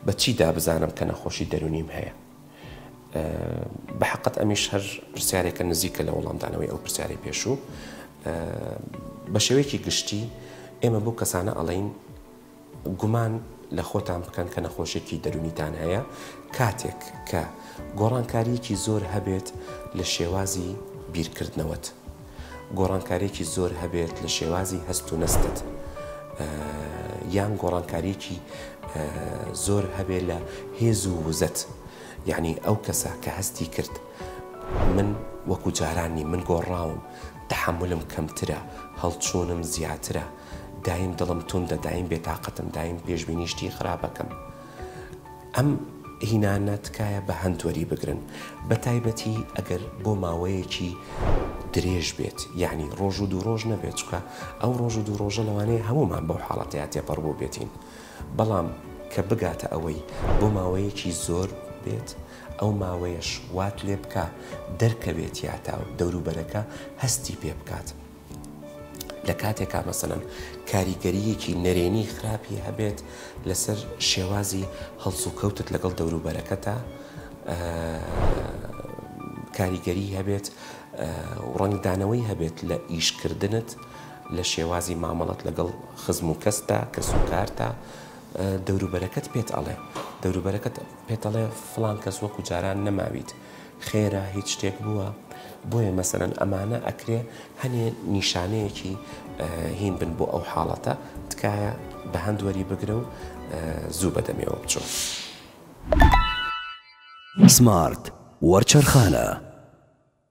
بە چی دا بزانم کە نەخۆشی دەرونیم هەیە؟ بە حقت ئەمیش هەر پرسیارێکە نزیکە لە وەڵامدانەوەی ئەو پرسیاری پێشوو بە شێوەیەکی گشتی ئێمە بۆ کەسانە ئەڵین گومان لە خۆتان بکەن کە نەخۆشێکی دەرونیتان هەیە کاتێک کە گۆڕانکاریەکی زۆر هەبێت لە شێوازی بیرکردنەوەت گۆڕانکاریەکی زۆر هەبێت لە شێوازی هەست و نەستت یان گۆڕانکاریەکی زۆر هەبێت لە هێز و وزەت یعنی ئەو کەسە کە هەستی کرد من وەکو جارانی من گۆڕاوم تحملم کەمترە هەڵچوونم زیاترە دایم دڵم توندە دایم بێتاقەتم دایم پێشبینی شتی خراپەکەم. ئەم هینانە تکایە بە هەند وەریبگرن بە تایبەتی ئەگەر بۆ ماوەیەکی درێژ بێت یەعنی ڕۆژ و دوو ڕۆژ نەبێت چونکە ئەو ڕۆژ و دوو ڕۆژە لەوانەیە هەموومان بەو حاڵەتەیا تێپەڕ بووبێتین بەڵام کە بگاتە ئەوەی بۆ ماوەیەکی زۆر بێت ئەو ماوەیەش وات لێبکا دەرکەوێت یاتا و دەوروبەرەکە هەستی پێ بکات. لە کاتێکا مەسەلەن کاریگەرییەکی نەرێنی خراپی هەبێت لەسەر شێوازی هەڵسوکەوتت لەگەڵ دەوروبەرەکەتە کاریگەری هەبێت ڕنگدانەوەی هەبێت لە ئیشکردنت لە شێوازی مامەڵەت لەگەڵ خزم و کەستا کەس و کارتە دەوروبەرەکەت پێت ئەڵێ دەوروبەرەکەت پێتەڵێ فلان کەس وەکو جاران نەماویت خێرە هیچ شتێک بووە بۆیە مەسەلەن ئەمانە ئەکرێ هەنێ نیشانەیەکی هین بن بۆ ئەو حاڵەتە تکایە بە هەند وەری بگرە و زوو بەدەمێەوە بچۆ. سمارت وەرچەرخانە.